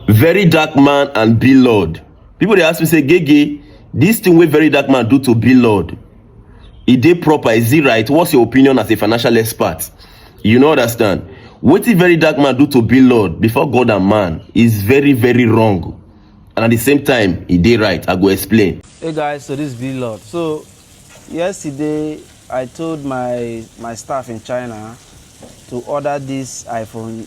Very dark man and be lord. People dey ask me say Gege, this thing wey very dark man do to be lord, e dey proper, is it right? What's your opinion as a financial expert? You no understand. Wetin very dark man do to be lord before God and man is very very wrong and at the same time e dey right. I go explain. Hey guys, so this is B Lord. So yesterday I told my my staff in China to order this iPhone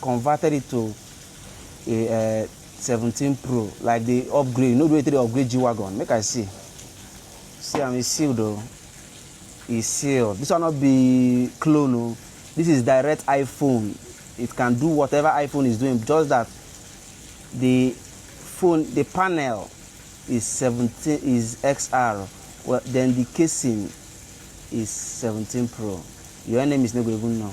converted it to a uh, 17 pro like the upgrade you know the way they upgrade g-wagon make i see see am e sealed o e sealed this one no be clone o this is direct iphone it can do whatever iphone is doing just that the phone the panel is 17 is xr well then the casing is 17 pro your enemies no go even know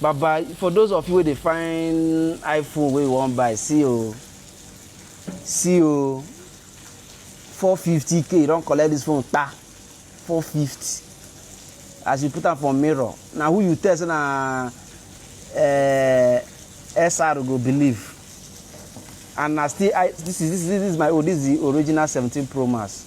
Baba for those of you wey dey find iPhone wey you wan buy see o see o four fifty k you don collect this phone kpa four fifty as you put am for mirror na who you tell say na uh, eh, SR go believe and na still I this is this is this is my own this is the original seventeen Pro Max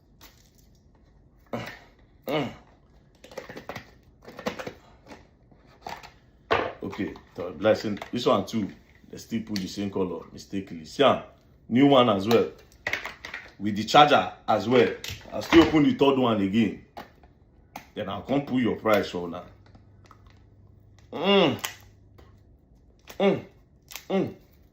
okay so like say this one too they still put the same color mistakenly see am new one as well with the charger as well i still open the third one again then i come put your price for una mm. Mm. Mm.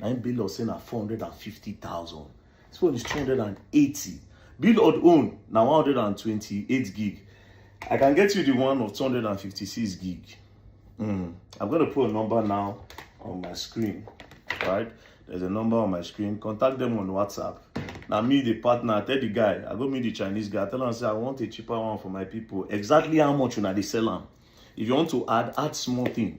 na im Bilod say na four hundred and fifty thousand this one is two hundred and eighty Bilod own na one hundred and twenty-eight gig I can get you the one of two hundred and fifty-six gig mm. I'm gonna put a number now on my screen right there's a number on my screen contact them on WhatsApp na me the partner tell the guy I go meet the Chinese guy tell am say I want a cheaper one for my people exactly how much una dey sell am if you want to add add small thing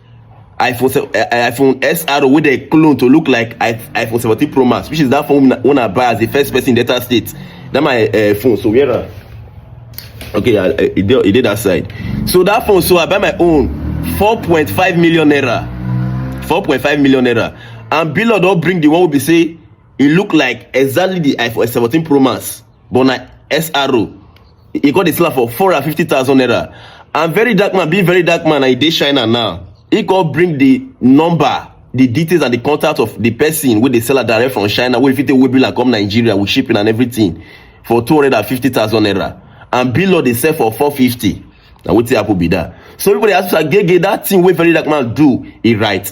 iphone eh, eh, iphone xr wey dem clone to look like iphone seventeen pro max which is that phone wey i buy as the first person in delta state that my uh, phone so where am okay i e dey e dey that side so that phone so i buy my own four point five million naira four point five million naira and billon don bring the one wey be say e look like exactly the iphone seventeen pro max but na sro e come dey sell am for four hundred and fifty thousand naira and very dark man being very dark man and e dey china now e come bring the number the details and the contact of the person wey dey sell am direct from china wey fit take wey bill am come nigeria with shipping and everything for two hundred and fifty thousand naira and bill dey sell for four fifty na wetin happen be that so people dey ask me say gege that thing wey very dark man do e right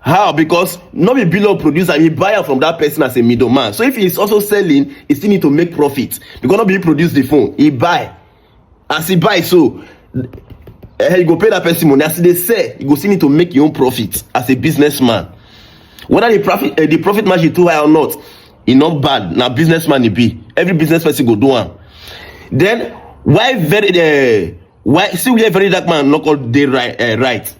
how because no be below producer he buy am from that person as a middleman so if he is also selling he still need to make profit because no be he produce the phone he buy as he buy so eh, you go pay that person money as he dey sell you go still need to make your own profit as a businessman whether the profit uh, the profit margin too high or not e no bad na businessman e be every business person go do am then why very uh, why see where very dark man no call dey right, uh, right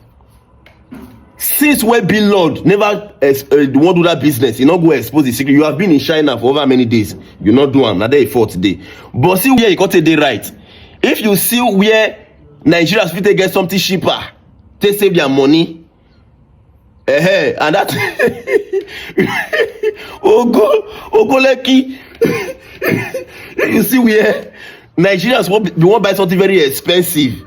since wey bin lord never eh, wan do that business e no go expose the secret you have been in china for over many days you no do am na there e fall today but see where e come take dey right if you see where nigerians fit take get something cheaper take save their money uh -huh. and that ogo ogoleki you see where nigerians wan be wan buy something very expensive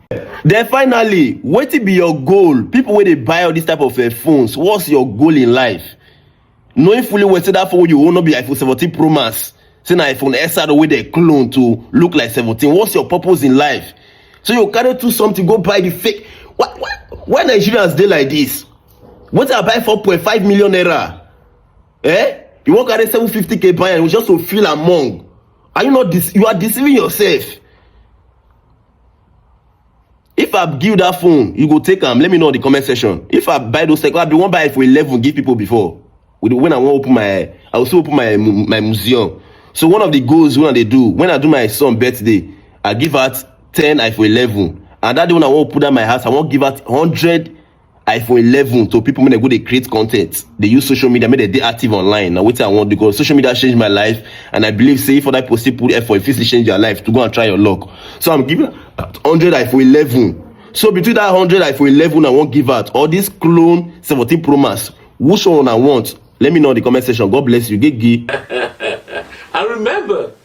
Then finally, wetin be your goal? People wey dey buy all these type of uh, phones, what's your goal in life? Knowing fully well say that phone you own no be iPhone 17 Pro Max, say na iPhone XR wey dey clone to look like 17. What's your purpose in life? So you carry two something go buy the fake. Why, why, why Nigerians dey like this? Wetin I buy 4.5 million naira? Eh? You wan carry 750k buy am just to feel among? Are you not? Dece- you are deceiving yourself. if i give you that phone you go take am let me know in the comment section if i buy those second i bin wan buy it for eleven give people before with when i wan open my i also open my mu- my museum so one of the goals wey i dey do when i do my son birthday i give out ten iphone eleven and that day when i wan open that my house i wan give out hundred iphone 11 to people when they go they create content they use social media make they dey active online Now what i want because social media changed my life and i believe say for that person put effort if it's change your life to go and try your luck so i'm giving 100 iphone 11 so between that 100 iphone 11 i won't give out all this clone 17 pro max which one i want let me know in the comment section god bless you gigi i remember